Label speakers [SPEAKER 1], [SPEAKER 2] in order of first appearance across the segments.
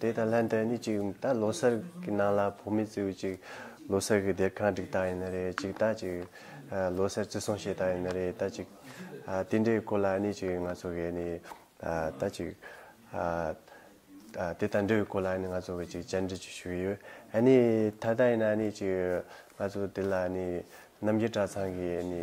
[SPEAKER 1] དེ་དང་ལྷན་དུ་ནི་ཅིག་ད་ལོ་སར་གི་ནང་ལ་བུ་མེད་ཙི་བུ་ཅིག་ལོ་སར་གི་སྡེར་ཁང་བསྒྲིགས་ད་ཡིན་ན་རེད་ཅིག་ད་ཅིག་ལོ་སར་བརྩི་སྲུང་བྱེད་ད་ཡིན་ན་རེད་ད་ཅིག་དེ་འདྲའི་སྐོར་ལ་ནི་ཅིག་ང་ཚོ་གིས་ནི་ད་ཅིག་དེ་དང་འབྲེལ་བའི་སྐོར་ལ་ནི་ང་ཚོ་གིས་ཅིག་བཅར་འདྲི་ཅིག་ཞུ་གི་ཡོད་ནི་ད་ལྟ་ཡིན་ན་ནི་ཅིག་ང་ཚོ་དེ་ལ་ནི་རྣམ་རྒྱལ་གྲྭ་ཚང་གིས་ནི།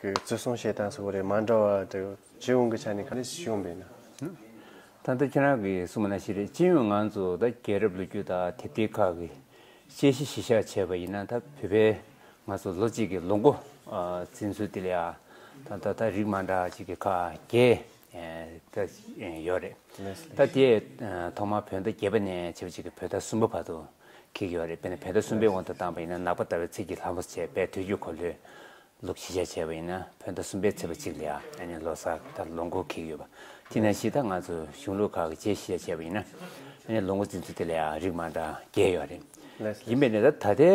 [SPEAKER 1] གི་བརྩི་སྲུང་བྱེད་སྟངས་སོགས་རེ་མ་འདྲ་བ་དེ་སྤྱི་ཡོངས་ཀྱི་ཆ་ནས་ག་རེ་བྱུང་བས་ན། ད་ལྟ་
[SPEAKER 2] ཁྱེད་རང་གིས་གསུངས་པ་ན་ཞིག་རེད་སྤྱི་ཡོངས་ང་ཚོ་ད་རྒྱལ་རབས་ལོ་རྒྱུས་དག་དེབ་སྐྱེལ་ཁག་གིས་དཔྱད་གཞི་གཞི་བཞག་བྱས་པ་ཡིན་ན་ད་བོད་པའི་ང་ཚོ་ལོ་གཅིག་གི་ལོ་འགོ་འཛིན་ཚུལ་དེ་ལ་ཡང་ད་ད་ད་རིགས་མ་འདྲ་ཅིག་གི་ཁག་བརྒྱད་ད་ཡོད་རེད། ད་དེ་ཐོག་མར་བོད་ཟླ་བརྒྱད་པ་ནས་བྱེད་པ་ཅིག་གིས་བོད་ཟླ་གསུམ་པ་བར་དུ་ཁེགས་ཡོད་རེད་དཔེར་ན་བོད་ཟླ་གསུམ་པའི་དབང་དུ་བཏང་པ་ཡིན་ན་ནག་པ་ལྟ་བའི་ཚིག་གིས་ལྷ་མོ་བྱས་པས་དུས་རྒྱུན་གོ་ལྷོད་ལོ་བཞི་བརྒྱ་བྱས་པ་ཡིན་ན་བོད་ཟླ་གསུམ་པའི་ཚེས་པ་གཅིག་ལ་ཡང་ལོ་གསར་དང་ལོ་འགོ་ཁེལ་གྱི་ཡོད་པ་དེས་ན་གཞི་བདག་ང་ཚོ་གཞུང་ལུགས་ཁག་གི་རྗེས་བཞི་བརྒྱ་བྱས་པ་ཡིན་ན་ཡང་ལོ་འགོ་འཛིན་ཚུལ་དེ་ལ་ཡང་རིགས་མང་དག་རྒྱས་ཡོད་རེད། ཡིན་པས་ན་ད་ད་ལྟའི་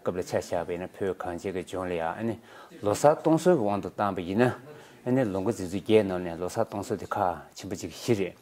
[SPEAKER 2] སྐབས་ལ་ཆ་བཞག་པས་ན་བོད་གངས་ཅན་གྱི་ལྗོངས་ལ་ཡང་ལོ་གསར་གཏོང་སྲོལ་གྱི་དབང་དུ་བཏང་པ་ཡིན་ན་ཡང་ལོ་འགོ་འཛིན་ཚུལ་རྒྱས་གནང་ནས་ལོ་གསར་གཏོང་སྲོལ་དེ་ཁག་ཆེན་པོ་གཅིག་གི་གཞི་རེད།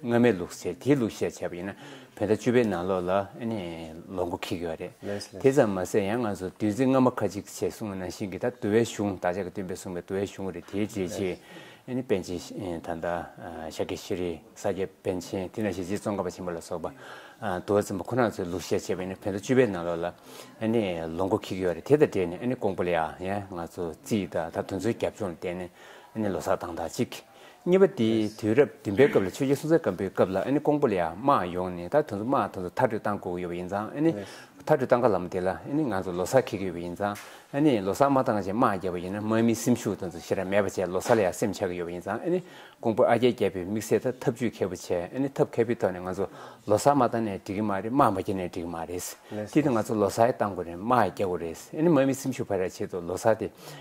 [SPEAKER 2] སྔ་མའི་ལུགས་ཟེར་དེའི་ལུགས་བཤད་བྱས་པ་ཡིན་ན་བོད་ཟླ་བཅུ་པའི་ནང་ལོགས་ལ་ནི་ལོ་མགོ་འཁེལ་གི་ཡོད་རེད། དེ་ཙམ་མ་ཟད་ཡང་ང་ཚོ་བདུད་རྩི་རྔ་མ་ཁ་ཅིག་བྱས་གསུང་བ་ནང་བཞིན་གྱི་ད་དུ་བའི་གཞུང་བདག་ཅག་གི་སྟོན་པས་གསུང་བའི་དུ་བའི་གཞུང་རེད་དེའི་རྗེས་ཆེ་ནི་པན་ཆེན་ད་ལྟ་ཤཱཀྱ་ཤྲཱི་རི་ས་སྐྱ་པན་ཆེན་དེ་ནང་བཞིན་རྗེ་ཙོང་ཁ་པ་ཆེན་པོ་ལ་སོགས་པ་དུ་བ་ཚན་པ་ཁོ་ན་ཚོའི་ལུགས་བཤད་བྱས་པ་ཡིན་ན་བོད་ཟླ་བཅུ་པའི་ནང་ལོགས་ལ་ནི་ལོ་མགོ་འཁེལ་གི་ཡོད་རེད་དེ་དང་འབྲེལ་ནས་ནི་ཀོང་པོ་ལི་ཡ་ཡང་ང་ཚོ་རྩིས་ད་ད་དུ་ཚོའི་རྒྱབ་ལྗོངས་ལ་བལྟས་ནས་ནི་ལོ་སར་དང་ད་ཅིག་གཉིས་པ་དེ་དུས་རབས་བདུན་པའི་སྐབས་ལ་ཆོས་རྗེ་སྲོང་བཙན་སྒམ་པོའི་སྐབས་ལ་ཀོང་པོ་ལ་ཡང་དམག་ཡོང་ནས་ད་དུང་དམག་ད་དུང་མཐར་སྐྲོད་བཏང་དགོས་ཀྱི་ཡོད་པ་ཡིན་ཙང་མཐར་སྐྲོད་བཏང་ག་ལ་མོ་དེ་ལ་ང་ཚོ་ལོ་སར་འཁེལ་གྱི་ཡོད་པ་ཡིན་ཙང་ལོ་སར་མ་བཏང་ཆེད་དམག་བརྒྱབ་པ་ཡིན་ན་དམག་མིའི་སེམས་ཤུགས་ད་དུང་ཆེ་ར་མེད་པ་བྱས་ལོ་སར་ལ་ཡང་སེམས་ཆགས་ཀྱི་ཡོད་པ་ཡིན་ཙང་ཀོང་པོ་ཨ་རྒྱའི་རྒྱལ་པོས་དམིགས་བསལ་ཐབས་ཇུས་མཁས་པོ་བྱས་ཐབས་མཁས་པོའི་ཐོག་ནས་ང་ཚོ་ལོ་སར་མ་བཏང་ནས་འགྲིག་གི་མ་རེད་དམག་མ་བརྒྱབ་ནས་འགྲིག་གི་མ་རེད་དེ་ལྟར་ང་ཚོ་ལོ་སར་བཏང་དགོས་རེད་དམག་བརྒྱབ་དགོས་རེད་དམག་མིའི་སེམས་ཤུགས་འཕར་བར་ཆེད་དུ་ལོ་སར་དེ་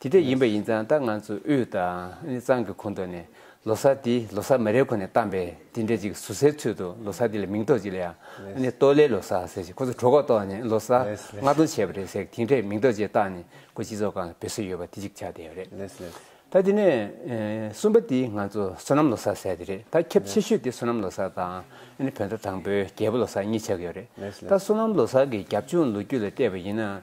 [SPEAKER 2] དེ་དེ་ཡིན་པ་ཡིན་ཙང་ད་ང་ཚོ་དབུས་དང་གཙང་གི་གོང་དུ་ནས་ལོ་སར་དེ་ལོ་སར་མ་རེད་ཁོ་ནས་གཏམ་པས་དེ་འདྲས་ཅིག་ཟུར་ཟའི་ཚུལ་དུ་ལོ་སར་དེ་ལ་མིང་ཐོགས་ཅིག་ལ་ཡང་ཏོ་ལེ་ལོ་སར་ཟེར་ཞིག་ཁོ་ཚོ་གྲོད་ཁོག་ཏོག་ནས་ལོ་སར་ལྔ་སྟོང་བྱས་པ་རེད་ཟེར་གི་དེ་འདྲས་མིང་ཐོགས་ཅིག་བཏགས་ནས་ཁོ་སྤྱི་ཚོགས་ཁང་ལ་བུད་སྲོལ་ཡོད་པ་དེ་ཅིག་ཆགས་བསྡད་པ་རེད། ད་དེ་ནས་གསུམ་པ་དེ་ང་ཚོ་བསོད་ནམས་ལོ་སར་ཟེར་དེ་རེད་ད་ཁྱབ་ཆེ་ཤོས་དེ་བསོད་ནམས་ལོ་སར་དང་བོད་ཟླ་དང་པོའི་རྒྱལ་པོ་ལོ་སར་གཉིས་ཆགས་ཡོད་རེད་ད་བསོད་ནམས་ལོ་སར་གི་རྒྱབ་ལྗོངས་ལོ་རྒྱུས་ལ་བལྟས་པ་ཡིན་ན།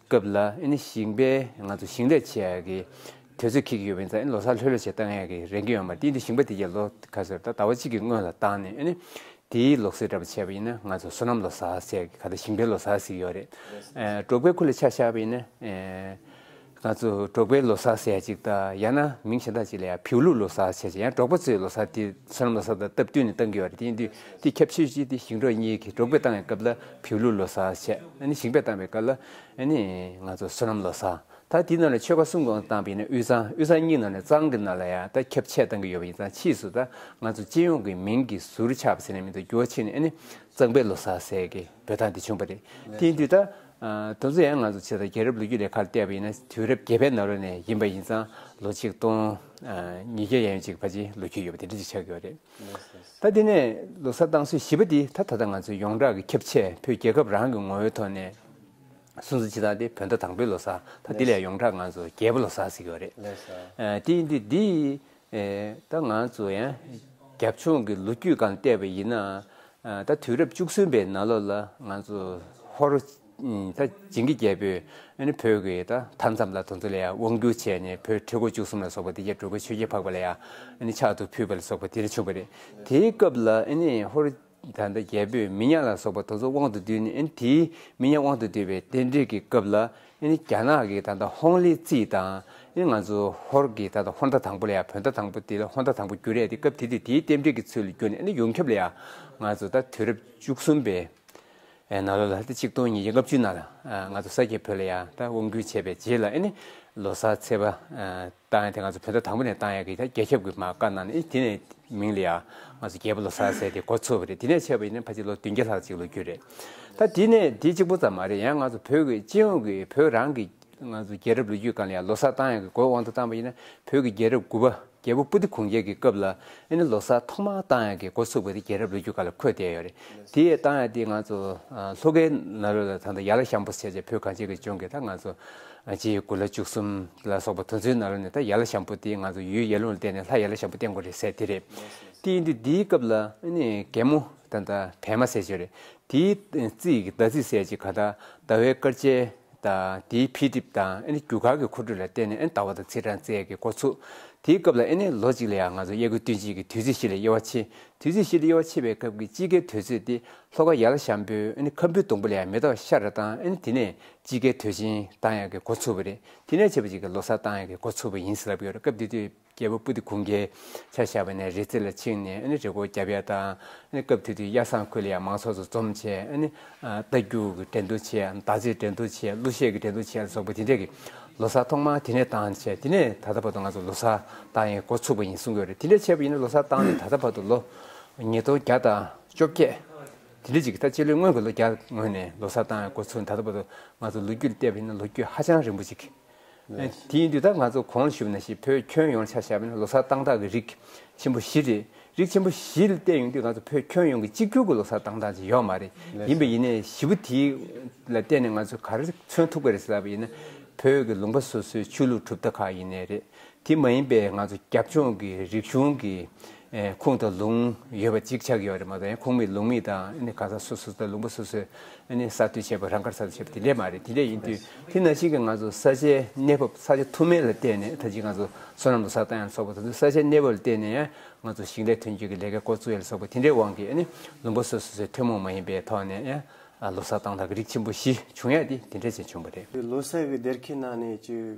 [SPEAKER 2] སྐབས་ལ་ཞིང་པས་ང་ཚོ་ཞིང་ལས་བྱེད་ཡག་གི་དུས་ཚོད་ཁེལ་གྱི་ཡོད་པ་ཡིན་ཙང་ལོ་སར་ལྷོད་ལྷོད་བྱེད་བཏང་ཡག་གི་རེ་འགས་ཡོང་མ་ཏི་འདི་ཞིང་པ་དེ་གས་ལོ་ཁ་སེར་ད་ཟླ་བ་གཅིག་གི་སྔོན་ལ་བཏང་ནས་དེའི་ལོག་སེར་འདྲ་པོ་བྱས་པ་ཡིན་ན་ང་ཚོ་སོ་ནམ་ལོ་སར་བྱས་གི་ཁ་ད་ཞིང་པའི་ལོ་སར་ཟིག་ཡོད་རེད་འབྲོག་པའི་ཁུ་ལ་ཆ་བཞག་པ་ཡིན་ན་ང་ཚོ་འབྲོག་པའི་ལོ་སར་ཟེར་ཡག་ཅིག་ད་ཡང་ན་མིང་གཞན་དག་ཅིག་ལ་ཡང་བེའུ་ལུག་ལོ་སར་བྱས་ཅིག་ཡང་འབྲོག་པ་ཚོའི་ལོ་སར་དེ་སོ་ནམ་ལོ་སར་དང་སྟབས་བསྟུན་ནས་བཏང་གི་ཡོད་རེད་དེ་འདུས་འདི་ཁྱབ་ཆོས་ཅིག་འདི་ཞིང་འབྲོག་གཉིས་ཀྱི་འབྲོག་པས་བཏང་ཡག་སྐབས་ལ། བོད་ལུགས་ལོ་སར་ཆེད་ཞིང་པས་བཏང་བའི་སྐབས་ལ། ང་ཚོ་བསོད་ནམས་ལོ་སར། ད་དེའི་ནང་ལ་ཆོལ་ཁ་གསུམ་གང་བཏང་བའི་ནང་དབུས་གཙང་དབུས་གཙང་གཉིས་ནང་ལ་གཙང་གི་ནང་ལ་ཡང་ད་ཁྱབ་ཆེད་བཏང་གི་ཡོད་པ་ཡིན་ཙང་ཕྱིས་སུ་ད་ང་ཚོ་སྤྱི་ཡོངས་ཀྱི་མིང་གི་ཟུར་ཆག་པ་ཟེར་ནས་མི་འདུག་འགྱུར་བ་ཕྱིན་ནས་གཙང་པའི་ལོ་སར་ཟེར་གི་འབོད་སྟངས་དེ་བྱུང་བ་རེད། དེ་དུས་ད་དུང་ཚོ་ཡང་ང་ཚོ་ཕྱི་ཟླ་རྒྱལ་རབས་ལོ་རྒྱུས་ལས་ཁ་ལ་བལྟས་པ་ཡིན་ན་དུས་རབས་བརྒྱད་པའི་ནང་ལོ་ནས་ཡིན་པ་ཡིན་ཙང་ལོ་ཆིག་སྟོང་ཉིས་བརྒྱ་ཡན་ཅིག་བར་གྱི་ལོ་རྒྱུས་ཡོད་པ་དེ་འདྲ་ཅིག་ཆགས་ཡོད་རེད། ད་དེ་ནས་ལོ་གསར་བཏང་སྲོལ་བཞི་པ་འདི་ད་ད་ལྟ་ང་ཚོས་ཡོངས་གྲགས་ཀྱི་ཁྱབ་ཆས་བོད་རྒྱལ་ཁབ་རང་གི་ངོ་བོའི་ཐོག་ནས་སྲུང་བརྩི་བྱེད་སྟངས་ཏེ་བོད་ཟླ་དང་པོའི་ལོ་གསར་ད་དེ་ལས་ཡོངས་གྲགས་ང་ཚོ་རྒྱལ་པོ་ལོ་གསར་ཟེར་གྱི་བ་རེད། དེ་ཡིན་དུས་འདི་ད་ང་ཚོ་ཡང་རྒྱབ་ཆུང་གི་ལོ་རྒྱུས་སྒང་བལྟས་པ་ཡིན་ན་ད་དུས་རབས་བཅུ་གསུམ་པའི་ན་ལོ་ལ་ང་ཚོ་ཧོར་ད་བྱིངས་ཀྱི་རྒྱལ་པོས་བོད་ཀྱི་ད་མཐའ་མཚམས་ལ་དོ་ཚོ་ལ་ཡང་དབང་བསྒྱུར་བྱས་ནས་བོད་ཁྲི་སྒོ་བཅུ་གསུམ་ལ་སོགས་པ་འདི་རྒྱལ་སྤྲུལ་པ་ཆོས་རྒྱལ་འཕགས་པ་ལ་ཡང་ཕྱག་ཏུ་ཕུལ་བ་ལ་སོགས་པ་དེ་རིང་བྱུང་བ་རེད། དེའི་སྐབས་ལ་ཧོར་ད་ལྟ་རྒྱལ་པོས་མི་ཉག་ལ་སོགས་པ་དོ་ཚོ་དབང་དུ་བསྡུས་ནས་དེའི་མི་ཉག་དབང་དུ་བསྡུས་པའི་རྟེན་འབྲེལ་གྱི་སྐབས་ལ་རྒྱ་ནག་གི་ད་ལྟ་ཧོང་ལི་ཙི་དང་ང་ཚོ་ཧོར་གྱི་ད་ལྟ་ཧོར་ཟླ་དང་པོ་ལ་ཡང་བོད་ཟླ་དང་པོ་འདི་ལ་ཧོར་ཟླ་དང་པོ་བསྒྱུར་རེད་དེ་སྐབས་དེ་དུས་དེའི་རྟེན་འབྲེལ་གྱི་ཚུལ་ལ་བསྒྱུར་ནས་ཡོངས་ཁྱབ་ལ་ཡང་ང་ཚོ་ད་དུས་རབས་བཅུ་གསུམ་པའི་ཨེ་ན་ལོ་ལ་ཏེ་ཆིག་སྟོང་ཉིས་བརྒྱ་ལྔ་བཅུའི་ནང་ལ་ང་ཚོ་ས་སྐྱའི་བོད་ལ་ཡང་ད་དབང་བསྐུར་བྱས་པའི་རྗེས་ལ་ཨེ་ནི་ལོ་སར་ཚེས་པ་བཏང་ཡང་དེ་ང་ཚོ་བོད་ཟླ་དང་པོ་ནས་བཏང་ཡང་གི་ད་རྒྱལ་ཁྱབ་ཀྱི་མ་བཀའ་གནང་ནས་དེ་ནས་མིང་ལ་ཡང་ང་ཚོ་རྒྱལ་པོ་ལོ་སར་ཟེར་ཏེ་འགོ་ཚུགས་པ་རེད་དེ་ནས་ཆད་པ་ཡིན་ན་ཕ་ཆེ་ལོ་བདུན་བརྒྱ་ལྷག་ཅིག་ལོ་རྒྱུས་རེད་ད་དེ་ནས་དེ་གཅིག་པོ་ཙམ་མ་རེད་ཡང་ང་ཚོ་བོད་ཀྱི་སྤྱི་ཡོངས་ཀྱི་བོད་རང་གི་ང་ཚོ་རྒྱལ་རབས་ལོ་རྒྱུས་གང་ལ་ཡང་ལོ་སར་བཏང་ཡང་གི་འགོའི་དབང་དུ་བཏང་པ་ཡིན་ན་བོད་ཀྱི་རྒྱལ་རབས་དགུ་པ། རྒྱལ་པོ་པུ་ཏི་གུང་རྒྱལ་གྱི་སྐབས་ལ་ཨེ་ནི་ལོ་སར་ཐོག་མར་ཏང་ཡག་གི་འགོ་ཚུགས་པ་དེ་རྒྱལ་རབས་ལོ་རྒྱུས་ཁག་ལ་འཁོད་བསྡད་ཡོད་རེད་དེ། ཏང་ཡག་འདི་ང་ཚོ་ལྷོ་ཁའི་ནགས་རོལ་ལ་ད་ལྟ་ཡར་ལ་ཤམ་པོ་བྱས་བྱས་བོད་གངས་ཅན་གྱི་ལྗོངས་ཀྱི་ད་ང་ཚོ་སྤྱི་ཡི་དགུ་ལ་བཅུ་གསུམ་ལ་སོགས་པ་དུ་མཚོའི་ནགས་རོལ་ནས་ད་ཡར་ལ་ཤམ་པོ་དེ་ང་ཚོ་ཡུལ་ཡར་ཀླུང་ལ་བརྟེན་ནས་ལྷ་ཡར་ལ་ཤམ་པོ་བརྟེན་དགོས་རེད་ཟེར་དེ་རེད་དེ་ཡིན་དུས་འདིའི་སྐབས་ལ་ཨེ་ནི་རྒན་མོ་ད་ད་བལ་མ་ཟེར་བྱས་རེད་དེའི་རྩིས་ཀྱི་ཟླ་རྩིས་ཟེར་ཅིག་ག་ད་ཟླ་བའི་སྐར་ཆའི་དང། དེའི་འཕེལ་འགྲིབ་དང་ཨེ་ནི་རྒྱུ་གར་གྱི་འཁོར་རྒྱུག་ལ་བརྟེན་ནས་ཨེ་ནི་ཟླ་བ་དང་ཚེས་གྲངས་ཚད་ཀྱི་འགོ་ཚུགས། དེའི་སྐབས་ལ་ཨེ་ནི་ལོ་གཅིག་ལ་ཡང་ང་ཚོ་དབྱར་དགུན་སྟོན་དཔྱིད་ཀྱི་དུས་ཚོད་བཞི་ལ་དབྱེ་བ་ཕྱེ། དུས་ཚོད་བཞི་ལ་དབྱེ་བ་ཕྱེ་བའི་སྐབས་ཀྱི་དཔྱིད་ཀའི་དུས་ཚོད་དེ་ལྷོ་ཁ་ཡར་ལ་ཤམ་བུ་ཨེ་ནི་ཁམ་བུའི་སྡོང་བུ་ལ་ཡང་མེ་ཏོག་ཤར་རེ་དང་ཨེ་ནི་དེ་ནས་དཔྱིད་ཀའི་དུས་ཆེན་དང་ཡང་གི་འགོ་ཚུགས་པ་རེད། དེ་ནས་ཕྱེད་པ་གཅིག་གི་ལོ་སར་དང་ཡང་གི་འགོ་ཚུགས་པ་ཡིན་ཟེར་ལབ་ཡོད་རེད་སྐབས་དེ་དུས། རྒྱལ་པོ་པུ་ཏི་གུང་གིས་ཆ་བཞག་པ་ནས་རི་རྩེ་ལ་ཕྱིན་ནས་རི་སྐོར་བརྒྱབ་ཡ་དང། སྐབས་དེ་དུས་གཡའ་སངས་ཁུལ་ལ་ཡང་མང་ཚོགས་ཚོ་འཛོམས་ཆེད། རྟ་རྒྱུག་གི་འགྲན་བསྡུར་ཆེད་དང་དར་ལྕེའི་འགྲན་བསྡུར་ཆེད་གླུ་གཞས་ཀྱི་འགྲན་བསྡུར་ཆེད་སོགས་པ་དེ་འདྲས་ཀྱི་ལོ་སར་ཐོག་མར་དེ་ནས་བཏང་ཆེད་དེ་ནས་ད་ལྟ་བར་དུ་ང་ཚོ་ལོ་སར་བཏང་ཡས་འགོ་ཚུགས་པ་ཡིན་གསུང་གི་རེད་དེ་འདྲས་བྱས་པ་ཡིན་ན་ལོ་སར་བཏང་ནས་ད་ལྟ་བར་དུ་ལོ་ཉིས་སྟོང་བརྒྱ་དང་བཅོ་བརྒྱད་དེ་འདྲས་ཅིག་གི་ད་སྤྱི་ལོའི་སྔོན་གྱི་ལོ་བརྒྱ་སྔོན་ནས་ལོ་སར་བཏང་ཡས་འགོ་ཚུགས་ནས་ད་ལྟ་བར་དུ་ང་ཚོ་ལོ་རྒྱུས་ལ་བལྟས་པ་ཡིན་ན་ལོ་རྒྱུས་ཧ་ཅང་རིང་པོ་ཅིག་དེའི་དུས་ད་ང་ཚོ་གོང་ལ་ཞུགས་ན་ཞིག་བོད་ཁྱོན་ཡོངས་ལ་ཆ་བཞག་པ་ནི་ལོ་སར་སྟངས་སྟངས་ཀྱི་རིགས་ཆེན་པོ་བཞི་རེད། རིགས་ཆེན་པོ་བཞི་བལྟས་ཡོང་དུས་ང་ཚོ་བོད་ཁྱོན་ཡོངས་ཀྱི་གཅིག་གྱུར་གྱི་ལོ་སར་སྟངས་སྟངས་ཅིག་ཡོད་མ་རེད། ཡིན་པས་ཡིན་ནའི་བཞི་པོ་དེ་ལ་བལྟས་ནས་ང་ཚོས་ག་རེ་མཚོན་ཐུག་པ་རེད་ཟེར་བ་ཡིན་ན། བོད་ཀྱི་ལུང་པ་སོ་སོའི་ཆོས་ལུགས་གྲུབ་མཐའ་ཁག་ཡིན་ནའི་རེད། དེ་མ་ཡིན་པའི་ང་ཚོ་རྒྱབ་ལྗོངས་ཀྱི་རིག་གཞུང་གི་ཁུངས་དང་ལུང་ཡོད་པ་གཅིག་ཆགས་ཡོད་པ་རེད་མ་གཏོགས་ཁུངས་མེད་ལུང་མེད་དང་གང་ཟག་སོ་སོ་དང་ལུང་པ་སོ་སོས་གསར་གཏོད་བྱས་པ་རང་དགར་གསར་གཏོད་བྱས་པ་དེ་འདྲས་མ་རེད་དེ་འདྲས་ཡིན་དུས་དེ་ན་ཞིག་གི་ང་ཚོ་ས་ཆའི་གནས་བབ་ས་ཆ་ཐུ་མེད་ལ་བལྟས་ནས་ད་ཅིག་ང་ཚོ་སོ་ནམ་དུ་ས་བཏང་ཡང་ཆོག་པ་ད་དུང་ས་ཆའི་གནས་བབ་ལ་བལྟས་ནས་ཡང་ང་ཚོ་ཞིང་ལས་ཐོན་སྐྱེད་ཀྱི་ལས་ཀའི་སྐོར་གཙོས་ལ་སོགས་པ་དེ་འདྲའི་དབང་གིས་ལུང་པ་སོ་སོས་ཚོའི་ཐུན་མོང་མ་ཡིན་པའི་ཐོག་ནས་ཡང་ལོ་སར་བཏང་ཐག་གི་རིགས་ཆེན་པོ་བཞི་བྱུང་ཡ་དེ་དེ་འདྲས་ཅན་བྱུང་བ་རེད། དེ་ལོ་སར་གྱི་སྡེར་ཁའི་
[SPEAKER 1] ནང་ནས་བཅོས།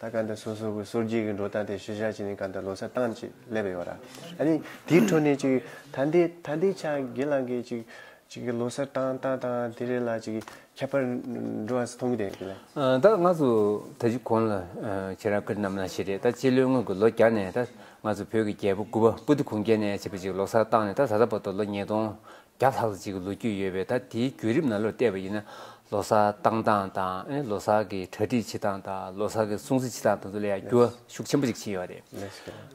[SPEAKER 1] ད་གང་དུ་སོ་སོ་གི་སོར་རྒྱུས་ཀྱི་འགྲོ་སྟངས་དེ་ཤུལ་བཞག་བྱས་ནས་གང་དུ་ལོ་སར་བཏང་ཅིག་སླེབས་ཡོད་ར་ཨ་ནི་དེའི་འཕྲོ་ནས་ཅིག་ད་འདི་ད་འདི་ཆ་དགེ་ལགས་ཀྱིས་ཅིག་ཅིག་གི་ལོ་སར་བཏང་བཏང་བཏང་དེ་རེ་ལ་ཅིག་ཁྱད་པར་འགྲོ་བ་སུ་མཐོང་གི་དེ་ལས། ད་ང་ཚོ་
[SPEAKER 2] ད་གཞི་གོང་ལ་ཁྱེད་རང་ཀིར་རྣམ་ལ་ཞེས་རེད་ད་སྤྱི་ལོའི་སྔོན་གྱི་ལོ་བརྒྱ་ནས་ད་ང་ཚོ་བོད་ཀྱི་རྒྱལ་པོ་དགུ་པ་པུ་ཏི་གུང་རྒྱལ་ནས་བྱས་པ་ཅིག་ལོ་སར་བཏང་ནས་ད་ད་ལྟ་བར་དུ་ལོ་ཉིས་སྟོང་བརྒྱ་ལྷག་ཙམ་ཞིག་གི་ལོ་རྒྱུས་ཡོད་པས་ད་དེའི་བརྒྱུད་རིམ་ནང་ལོ་བལྟས་པ་ཡིན་ན་ལོ་སར་བཏང་སྟངས་དང་ལོ་སར་གྱི་གྲ་སྒྲིག་བྱེད་སྟངས་དང་ལོ་སར་གྱི་སྲུང་བརྩི་བྱེད་སྟངས་དང་དུ་ལ་ཡང་འགྱུར་བ་ཤུགས་ཆེན་པོ་ཞིག་ཕྱིན་ཡོད་པ་རེད།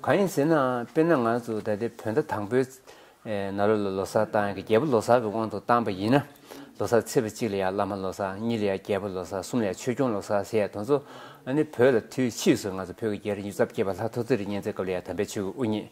[SPEAKER 2] གང་ཡིན་ཟེར་ན་དཔེར་ན་ང་ཚོ་ད་ལྟའི་བོད་ཟླ་དང་པོའིནང་ལོ་ལ་ལོ་སར་བཏང་ཡང་རྒྱལ་པོ་ལོ་སར་གྱི་དབང་དུ་བཏང་པ་ཡིན་ན་ལོ་སར་ཚེས་པ་གཅིག་ལ་ཡང་བླ་མ་ལོ་སར་གཉིས་ལ་ཡང་རྒྱལ་པོ་ལོ་སར་གསུམ་ལ་ཡང་ཆོས་སྐྱོང་ལོ་སར་ཞེས་དང་ཚོ་ནི་བོད་ལ་དུས་ཕྱིས་སུ་ང་ཚོ་བོད་ཀྱི་རྒྱལ་རིགས་མྱུར་ཚབས་སྐྱེས་པ་ལྷ་ཐོ་ཙེ་རི་གཉན་ཚའི་སྐབས་ལ་ཡང་དམ་པའི་ཆོས་ཀྱི་དབུ་བརྙེས།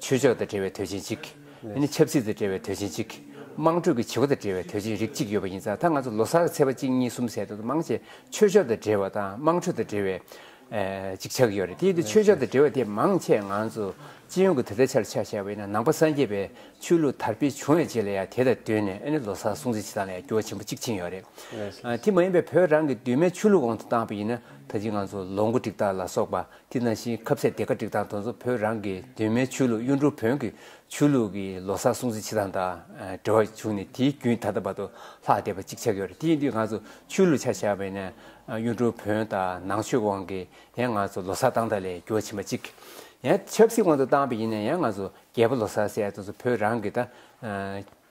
[SPEAKER 2] ཆོས་ཕྱོགས་དང་འབྲེལ་བའི་དོན་ཆེན་གཅིག། ཆབ་སྲིད་དང་འབྲེལ་བའི་དོན་ཆེན་གཅིག། དམངས་ཁྲོད་ཀྱི་བྱེད་སྒོ་དང་འབྲེལ་བའི་དོན་ཆེན་རིགས་གཅིག་ཡོད་པ་ཡིན་ཙང་ད་ང་ཚོ་ལོ་སར་གྱི་ཚེས་པ་གཅིག་གཉིས་གསུམ་ཟེར་དུས་དུ་མང་ཆེ་ཆོས་ཕྱོགས་དང་འབྲེལ་བ་དང་དམངས་ཁྲོད་དང་འབྲེལ་བའི། གཅིག་ཆགས་ཀྱི་ཡོད་རེད་དེ་ཡིན་དུས་ཆོས་ཕྱོགས་དང་འབྲེལ་བ་དེ་མང་ཆེ་ང་ཚོ་སྤྱི་ཡོངས་ཀྱི་དུས་ད་ཆར་ཆ་བཞག་པ་ཡིན་ན་ནང་པ་སངས་རྒྱས་པའི་ཆོས་ལུགས་དར་སྤེལ་བྱུང་བའི་རྗེས་ལ་ཡང་དེ་དང་བསྟུན་ནས་ཨ་ནི་ལོ་སར་སྲུང་བརྩི་བྱེད་སྟངས་ལ་ཡང་འགྱུར་བ་ཆེན་པོ་གཅིག་ཕྱིན་ཡོད་རེད། དེ་མ་ཡིན་པའི་བོད་རང་གི་གདོད་མའི་ཆོས་ལུགས་འོག་ཏུ་བཏང་པ་ཡིན་ན་ད་ཅི་ང་ཚོ་ལོ་འགོ་འགྲིག་སྟངས་ལ་སོགས་པ་དེ་ནང་བཞིན་ཁབ་ཚད་དེ་ག་སྒྲིག་དང་དོན་གཙོ་བོད་རང་གི་གདོད་མའི་ཆོས་ལུགས་གཡུ་འབྲུག་བོན་གྱི་ཆོས་ལུགས་ཀྱི་ལོ་སར་སྲུང་བརྩི་བྱེད་སྟངས་དང་འབྲེལ་བ་བྱུང་ནས་དེའི་རྒྱུན་ད་ལྟ་བར་དུ་ལྷག་བསྡད་པ་གཅིག་ཆགས་ཡོད་རེད་དེ་ཡིན་དུས་ང་ཚོ་ཆོས་ལུགས་ཆ་བཞག་པས་ན་གཡུ་འབྲུག་བོན་དང་ནང་ཆོས་དབང་གིས་ཡང་ང་ཚོ་ལོ་སར་སྟངས་དག་ལས་འགྱུར་བ་ཕྱིན་པ་གཅིག་ཡང་ཆབ་སྲིད་དབང་དུ་བཏང་པས་ཡིན་ན་ཡང་ང་ཚོ་རྒྱལ་པོ་ལོ་སར་ཟེར་དོན་གཙོ་བོད་རང་གི་དང་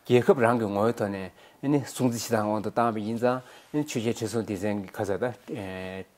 [SPEAKER 2] རྒྱལ་ཁབ་རང་གི་ངོ་བོའི་ཐོག་ནས་སྲུང་བརྩི་བྱེད་སྟངས་དབང་དུ་བཏང་པས་ཡིན་ཙང་ཆོས་རྒྱལ་ཁྲི་སྲོང་ལྡེ་བཙན་གྱི་ཁ་ཚ་དང།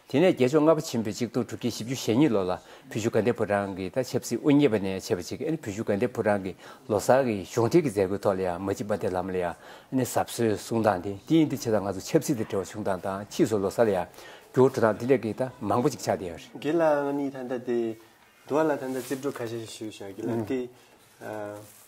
[SPEAKER 2] དེ་ནས་རྒྱལ་མཆོག་ལྔ་པ་ཆེན་པོའི་གཅིག་སྟོང་དྲུག་བརྒྱ་བཞི་བཅུ་ཞེ་གཉིས་ལོ་ལ་བུ་བཞུགས་དགའ་ལྡན་ཕོ་བྲང་གི་དང་ཆབ་སྲིད་དབུ་བརྙེས་པ་ནས་བྱས་པ་ཅིག་བུ་བཞུགས་དགའ་ལྡན་ཕོ་བྲང་གི་ལོ་གསར་གྱི་གཞུང་འབྲེལ་གྱི་མཛད་སྒོའི་ཐོག་ལ་ཡང་མ་གཅིག་པ་དེ་ལམ་ལ་ཡང་ཟབ་གསོལ་གསུང་སྟངས་དེ་དེ་ཡིན་ཏེ་ཕྱི་དང་ང་ཚོ་ཆབ་སྲིད་དང་འབྲེལ་བ་བྱུང་སྟངས་དང་ཕྱིས་སུ་ལོ་གསར་ལ་ཡང་འགྱུར་བ་འགྲོ་སྟངས་དེ་འདྲ་གི་དང་མང་པོ་ཅིག་ཆགས་བསྡད་ཡོད་རེད། དགེ་ལགས་ཨང་གཉིས་ད་
[SPEAKER 1] ལྟ་དེ་འདུག་ལ་ད་ལྟ་རྩིས་སྤྲོད་ཁ་ཤས་ཤིག་ཞུ་ཞུ་བྱ་དགེ་ལགས་དེ།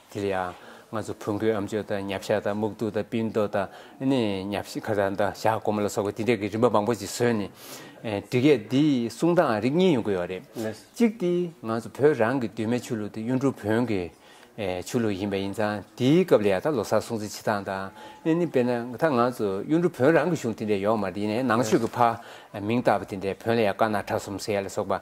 [SPEAKER 2] དེར་ཡང་ང་ཚོ་བོན་སྒོས་ཨམ་ཆོས་དང་ཉབ་ཞག་དང་སྨུག་རྡུགས་དང་སྤིན་རྡོ་དང་ཉབ་ཞག་གོ་མ་ལ་སོགས་པ་དེ་འདྲའི་གི་རིམ་པ་མང་པོ་ཞིག་བཟོས་ནས་འབྲི་སྐད་འདིའི་གསུང་སྟངས་རིགས་གཉིས་ཡོང་གི་ཡོད་རེད། གཅིག་དེ་ང་ཚོ་བོད་རང་གི་གདོད་མའི་ཆོས་ལུགས་དེ་གཡུང་དྲུང་བོན་གྱི་ཆོས་ལུགས་ཡིན་པ་ཡིན་ཙང་དེའི་སྐབས་ལ་ཡང་ད་ལོ་སར་སྲུང་བརྩི་བྱེད་སྟངས་དང་དཔེར་ན་ད་ང་ཚོ་གཡུང་དྲུང་བོན་རང་གི་གཞུང་དེ་འདྲའི་ཡོག་མ་རེད་ཡིན་ནའི་ནང་ཆོས་ཀྱི་ཕ་མིང་བཏགས་པ་དེ་འདྲའི་བོན་ལ་ཡང་དཀར་ནག་ཁྲ་གསུམ་སེར་ལ་སོགས་པ།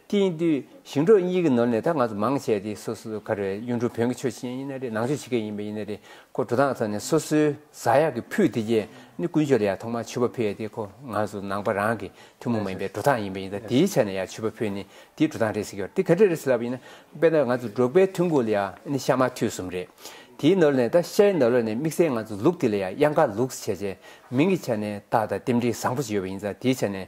[SPEAKER 2] དེང་དུས་ཞིང་འབྲོག་གཉིས་ཀྱི་ནོར་ནས་ད་ང་ཚོ་མང་ཆེ་དེ་སོ་སོའི་ཁར་གཡུ་འབྲུག་བོན་གྱི་ཆོས་ཅན་ཡིན་ན་རེད་ནང་ཆོས་ཕྱི་སྐད་ཡིན་པ་ཡིན་ན་རེད་ཁོ་འགྲོ་སྟངས་ཐོག་ནས་སོ་སོའི་བཟའ་ཡག་གི་ཕུད་དེ་རྗེས་ནི་ཀུན་སྤྱོད་ལ་ཡང་ཐོག་མར་ཆུ་བ་ཕུད་ཡ་དེ་ཁོ་ང་ཚོ་ནང་པ་རང་གི་ཐུན་མོང་མ་ཡིན་པའི་འགྲོ་སྟངས་ཡིན་པ་ཡིན་ད་དེའི་ཆ་ནས་ཡང་ཆུ་བ་ཕུད་ནི་དེའི་འགྲོ་སྟངས་རེད་ཟེར་གྱི་བ་དེ་ག་འདྲ་རེད་ཟེར་ལབ་པ་ཡིན་ན་དཔེར་ན་ང་ཚོ་འབྲོག་པའི་ཐུན་གོ་ལ་ཡང་ནི་ཤ་མ་ཐུད་གསུམ་རེད་དེའི་ནོར་ལས་ད་ཤའི་ནོར་ལ་ནས་དམིགས་བསལ་ང་ཚོ་ལུག་དེ་ལ་ཡང་དབྱང་ཀ་ལུགས་ཟེར་བྱས་བྱས་མིང་གི་ཆ་ནས་ད་ད་རྟེན་འབྲེལ་བཟང་པོ་ཞིག་ཡོད་པ་ཡིན་ད་དེའི་ཆ་ནས་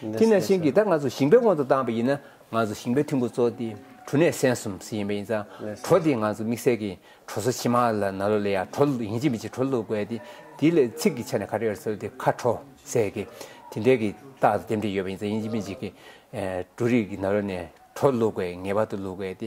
[SPEAKER 2] དེས་ན་ཤིང་གིས་ད་ང་ཚོ་ཞིང་པའི་དབང་དུ་བཏང་བ་ཡིན་ན་ང་ཚོ་ཞིང་པའི་ཐུན་གོ་ཚོགས་འདི་གྲུ་ནས་སན་གསུམ་ཟིན་ཡིན་པ་ཡིན་ཙང་གྲོ་དེ་ང་ཚོ་དམིགས་བསལ་གྱི་གྲོ་སོ་ཕྱི་མ་ལ་ན་ལོ་ལས་ཡག་གྲོ་ཡིན་ཅི་མི་ཅི་གྲོ་བླུགས་དགོས་ཏེ་དེ་ལས་ཚིག་གི་ཆ་ནས་ཁ་ཏྲེར་སོལ་ཏེ་ཁ་གྲོ་ཟེར་གི་དེ་འདྲའི་གི་རྟགས་དེ་འདྲ་ཡོད་པ་ཡིན་ཙང་ཡིན་ཅི་མི་ཅི་གི་གྲོ་རིགས་ཀྱི་ན་ལོ་ནས་གྲོ་བླུགས་དགོས་ངེས་པར་དུ་བླུགས་དགོས་ཏེ་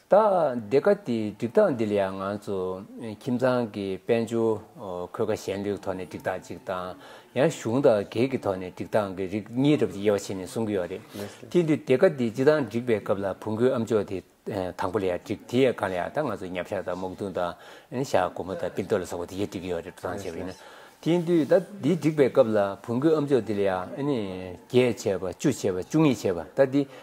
[SPEAKER 2] ད་འདི་ག་དེའི་སྒྲིག་སྟངས་འདི་ལ་ཡང་ང་ཚོ་ཁྱིམ་ཚང་གི་དཔལ་འབྱོར་འཁོས་ཀ་ཞན་ལུགས་ཐོག་ནས་སྒྲིག་སྟངས་གཅིག་དང་ཡང་གཞུང་དང་སྒེར་གྱི་ཐོག་ནས་སྒྲིག་སྟངས་ཀྱི་རིགས་གཉིས་རབ་ཀྱི་དབྱེ་བ་ཕྱེ་ནས་གསུང་གི་ཡོད་རེད། དེ་དུས་འདི་ག་དེའི་སྤྱི་དང་སྒྲིག་པའི་སྐབས་ལ་བུ་འགོའི་ཨམ་ཅོག་དེ་དང་པོ་ལ་ཡང་སྒྲིག་དེ་ཡང་གང་ལ་ཡང་དང་ང་ཚོ་ཉམས་ཤག་དང་སྨུག་རྡུང་དང་ཤག་སྒོར་མོ་དང་པིར་རྡོ་ལ་སོགས་པ་དེ་གཞི་སྒྲིག་གི་ཡོད་རེད་འགྲོ་སྟངས་བྱས་པ་ཡིན་ན། དེ་དུས་ད་འདི་སྒྲིག་པའི་སྐབས་ལ་བུ་འགོའི་ཨམ་ཅོག་དེ་ལ་ཡང་ཨ་ནི་བརྒྱད་བྱས་པ་བཅུ་བྱས་པ་བཅུ་གཉིས་བྱས་པ་ད་འདི་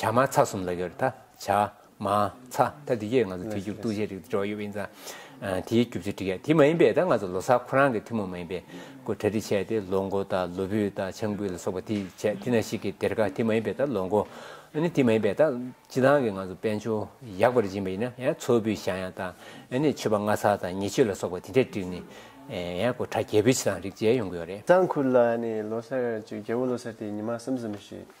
[SPEAKER 2] བྱ་མ་ཚ་གསུམ་ལ་ཡོད་རེད་ད། བྱ། མ། ཚ། ད་འདི་གས་ང་ཚོ་དུས་རྒྱུན་ཏུ་བཤད་རིགས་འགྲོ་ཡོད་པ་ཡིན་ཙང། དེའི་རྒྱུ་མཚན་འགྲིག་ཡ་དེ་མ་ཡིན་པས་ད་ང་ཚོ་ལོ་སར་ཁོ་རང་གི་ཐུན་མོང་མ་ཡིན་པའི་སྐོར་གྲ་སྒྲིག་བྱས་ཏེ་ལོ་མགོ་དང་ལོ་བུད་དང་ཆང་བུད་ལ་སོགས་པ་དེ་བྱས་དེ་ན་ཞིག་གི་དེར་ཁ་དེ་མ་ཡིན་པས་ད་ལོ་མགོ། ནི་དེ་མ་ཡིན་པས་ད། སྤྱི་ལང་གི་ང་ཚོ་དཔལ་འབྱོར་ཡག་པར་སྦྱིན་པ་ཡིན་ན་ཡང་མཚོ་བུད་ཞང་ཡང་དང། ནི་མཆོད་པ་ལྔ་ཚར་དང་ཉེ་མཆོད་ལ་སོགས་པ་དེ་འདྲས་བསྒྲིགས་ནི། ཡང་སྐོར་གྲ་རྒྱས་བུད་ཕྱི་དང་རིགས་བྱས་ཡོང་གི་ཡོད་རེད། གཙང་ཁུལ་ལ་ནི་ལོ་
[SPEAKER 1] སར་གཅིག་རྒྱལ་བོ་ལོ་སར་དེ་ཉི་མ་གསུམ་གསུམ་ཞིག།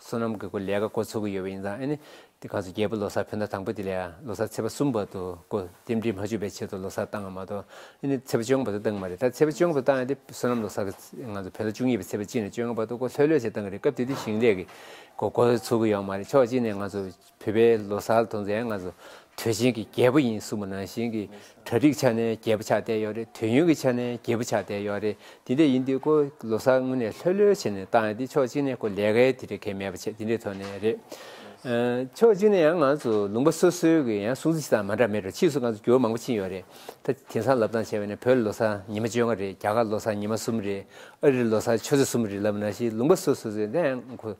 [SPEAKER 2] བསོད་ནམས་དགེ་བསྐོས་ལས་ཀ་བསྐོ་ཚུགས་ཀྱི་ཡོད་པ་ཡིན་ཙང་ཨ་ནི། དེ་ག་ཚོད་རྒྱལ་པོ་ལོ་སར་ཕེབས་ན་དང་པོ་དེ་ལས་ལོ་སར་ཚེས་པ་གསུམ་བར་དུ་བསྐོ་རྟེན་འབྲེལ་མ་འཇུག་པའི་ཆེད་དུ་ལོ་སར་བཏང་བ་མ་གཏོགས་ཨ་ནི་ཚེས་པ་བཅོ་ལྔ་བར་དུ་བཏང་གི་མ་རེད་ད་ཚེས་པ་བཅོ་ལྔ་བར་བཏང་ཡང་དེ་བསོད་ནམས་ལོ་སར་གི་ང་ཚོ་བོད་ལོ་བཅུ་གཉིས་པའི་ཚེས་པ་གཅིག་ནས་བཅོ་ལྔ་བར་དུ་བསྐོ་ལྷོད་ལྷོད་བྱས་བཏང་གི་རེད་སྐབས་དེ་དུས་ཞིང་ལས་ཀྱི་བསྐོ་བསྐོ་ཚུགས་ཀྱི་ཡོད་མ་རེད་ཕྱོགས་གཅིག་ནས་ང་ཚོ་བོད་པའི་ལོ་གསར་དང་མཛའ་ང་ཚོ་དུས་ཆེན་གྱི་རྒྱལ་པོ་ཡིན་གསུངས་པ་ནང་བཞིན་གྱི་གྲ་སྒྲིག་ཆ་ནས་རྒྱལ་པོ་ཆགས་བསྡད་ཡོད་རེད་དུས་ཡུན་གྱི་ཆ་ནས་རྒྱལ་པོ་ཆགས་བསྡད་ཡོད་རེད་དེ་འདྲ་ཡིན་དུས་ཀོ་ལོ་གསར་དངོས་ནས་ལྷོད་ལྷོད་བྱས་ནས་བཏང་ཡོད་དེ་ཕྱོགས་གཅིག་ནས་ཀོ་ལས་ཀའི་དེ་འདྲ་གལ་མེད་པ་བྱས་དེ་འདྲའི་ཐོག་ནས་རེད། ཕྱོགས་གཅིག་ནས་ཡང་ང་ཚོ་ལུང་པ་སོ་སོའི་གི་ཡང་སྲུང་བརྩི་བྱེད་སྟངས་མ་འདྲ་མེད་རེད་ཕྱིས་སུ་ང་ཚོ་འགྱུར་བ་མང་པོ་ཕྱིན་ཡོད་རེད་ད་དེང་སང་ལབ་སྟངས་བྱས་པ་ནས་བོད་ལོ་གསར་ཉི་མ་བཅོ་ལྔ་རེད་རྒྱ་གར་ལོ་གསར་ཉི་མ་གསུམ་རེད་ཨ་རིར་ལོ་གསར་ཆུ་ཚོད་གསུམ་རེད་ལབ་ན་བཞིན་ལུང་པ་སོ་སོ་སོའི་མཛའ་ང་ཁོ་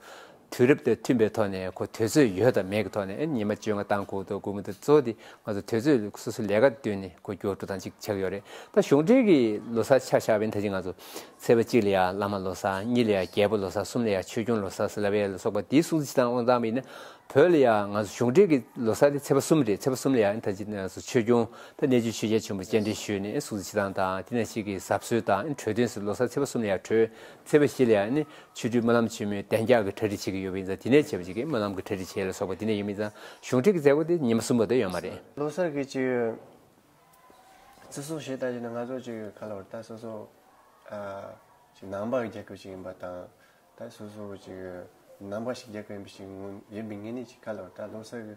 [SPEAKER 2] དུས་རབས་དང་མཐུན་པའི་ཐོག་ནས་གོ་དོན་ཚོད་ཡོད་དང་མེད་ཀྱི་ཐོག་ནས་ཉི་མ་བཅོ་ལྔ་དང་དགུང་དང་དགུང་མོ་དང་གཙོ་དེ་ང་ཚོ་དུས་ཚོད་སོ་སོའི་ལས་ཀ་བསྟུན་ནས་གོ་སྐྱོ་དྲུག་དང་གཅིག་ཆགས་ཡོད་རེད་ད་གཞུང་འབྲེལ་གྱི་ལོ་སར་ཆ་བཞག་པའི་ཐ་ཆེ་ང་ཚོ་ཚེས་པ་གཅིག་ལ་ཡང་བླ་མ་ལོ་སར་གཉིས་ལ་ཡང་རྒྱལ་པོ་ལོ་སར་གསུམ་ལ་ཡང་ཆོས་སྐྱོང་ལོ་སར་སེ་ལ་བྷེ་ལ་སོགས་པ་དེའི་སྲུང་བརྩི་དང་དབང་ཐང་མིན་ན་བོད་ལ་ཡང་ང་ཚོ་གཞུང་འབྲེལ་གྱི་ལོ་སར་དེ་ཚེས་པ་གསུམ་རེད་ཚེས་པ་གསུམ་ལ་ཡང་ད་ཅི་ང་ཚོ་ཆོས་སྐྱོང་དང་གནས་ཆུ་ཆོས་རྒྱལ་ཆེན་པོ་སྤྱན་འདྲེན་ཞུས་ནས་སྲུང་བརྩི་བྱེད་སྟངས་དང་དེ་ནས་ཞིག་གི་གཟབ་གསོལ་དང་གྲོས་འདོན་སུ་ལོ་སར་ཚེས་པ་གསུམ་ལ་ཡང་གྲོས་ཚེས་པ་བཞི་ལ་ཡང་ཆོས་རྒྱུད་སྨོན་ལམ་ཆེན་མོའི་གདན་རྒྱག་གི་གྲ་སྒྲིག་བྱེད་ཀྱི་ཡོད་པ་ཡིན་ཙང་དེ་ནས་བྱེད་པ་ཅིག་གིས་སྨོན་ལམ་གྱི་གྲ་སྒྲིག་བྱེད་ལ་སོགས་པ་དེ་ནས་ཡོད་མིན་ཙང་གཞུང་ཁྲིད་ཀྱི་མཛད་སྒོ་དེ་ཉིན་མ་གསུམ་པ་དེ་ཡོད་མ་རེད། ལོ་སར་གྱི་བྱེད་ཡོད།
[SPEAKER 1] བརྩི་སྲུང་ཞེས་ལྟ་ཞིག་ནི་ང་ཚོར་བཅོལ་ཡོད་ཁ་ལོ་བར་ད་སོ་སོ་ཞིག་ནང་པ་རྒྱག་གི་ཞིག་ཡིན་པ་དང། ད་སོ་སོ་ཞིག་ནང་པ་ཞིག་རྒྱག་གི་ཡིན་པ་ཞིག་ཡིན་པའི་ངེས་གནས་ཞིག་ཁ་ལོ་བར་ད་ལོ་སར་གྱི་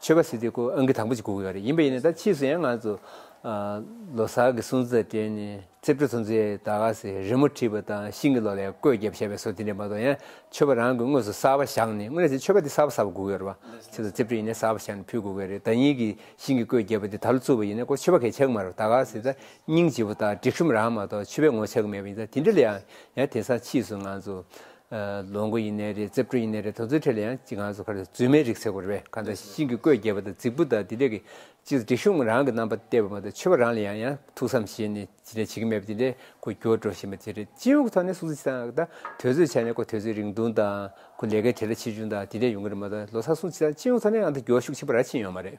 [SPEAKER 2] ཆོས་པ་སི་ཏི་སྐུ་ཨང་ཀི་དང་པོ་ཅིག་བསྒུགས་ཡོད་རེད་ཡིན་པ་ཡིན་ནའི་ད་ཕྱིས་སུ་ཡང་ང་ཚོ་ལོ་སར་གི་སྲུང་བརྩི་དེ་ནི་རྩིབ་སྤྲུལ་ཚོ་ཚོས་ད་ག་ཟེ་རི་མོ་བྲིས་པ་དང་ཤིང་གི་ལོ་ལས་བརྐོས་བརྒྱབ་བྱས་པའི་སོ་དེ་འདྲས་མ་གཏོགས་ཡང་ཆོས་པ་རང་གི་དངོས་སུ་གསར་བ་བཞག་ནས་དངོས་ནས་ཆོས་པ་དེ་གསར་བ་གསར་བ་བསྒུགས་ཡོད་རེད་བ་ཆེ་ཚོ་རྩིབ་སྤྲུལ་ཡིན་ནའི་གསར་བ་བཞག་ནས་ཕུལ་བསྒུགས་ཡོད་རེད་ད་ཉིད་ཀྱི་ཤིང་གི་བརྐོས་བརྒྱབ་པ་དེ་ད་ལོ་བཙུགས་པ་ཡིན་ནའི་ཁོ་ཆོས་པ་གས་ཆགས་གི་མ་རེད་བ་ད་ག་ཟེ་ད་སྙིང་རྗེ་བོ་དང་སྒྲིག་ཤོམ་རང་མ་གཏོགས་ཆོས་པའི་ངོ་ཆགས་གི་མེད་པ་ཡིན་ད་དེ་འདྲས་ལ་ཡང་ཡང་དེང་སང་ཕྱིས་སུ་ང་ཚོ་ལོ་འགོ་ཡིན་ནའི་རེད་རྩེ་བཀྲུ་ཡིན་ནའི་རེད་དོ་ཚོའི་ཁྲེད་ལ་ཡང་ཅི་གང་སུ་ཁར་རྫུན་མའི་རིགས་ཚེ་གོ་རེ་བས་གང་ལྟར་ཤིང་གི་བརྐོས་རྒྱས་པ་དང་རྫིག་པོ་དང་དེ་འདྲས་ཀྱི་ཅི་སྒྲིག་གཞུང་རང་གི་རྣམ་པ་སྟེར་བ་མ་གཏོགས་ཆོས་པ་རང་ལ་ཡང་ཡང་ཐུགས་བསམ་བཞེས་ནས་ཅི་འདྲས་བྱེད་ཀྱི་མེད་པ་དེ་འདྲས་ཁོ་འགྱུར་བ་འགྲོ་བཞིན་པ་དེ་རེད་སྤྱི་ཡོངས་ཀྱི་ཐོག་ནས་སུ་ཅི་དང་དང་དོད་ཚོད་བྱས་ནས་ཁོ་དོད་ཚོད་རིང་ཐུང་དང་ཁོ་ལས་ཀའི་ཐད་ལ་ཆེ་ཆུང་དང་དེ་འདྲས་ཡོང་གི་རེད་མ་གཏོགས་ལོ་སར་སུ་ཅི་དང་སྤྱི་ཡོངས་ཐོག་ནས་ཨང་དང་སྒྱོགས་ཤུགས་ཆེན་པོ་རག་ཕྱིན་ཡོད་མ་རེད།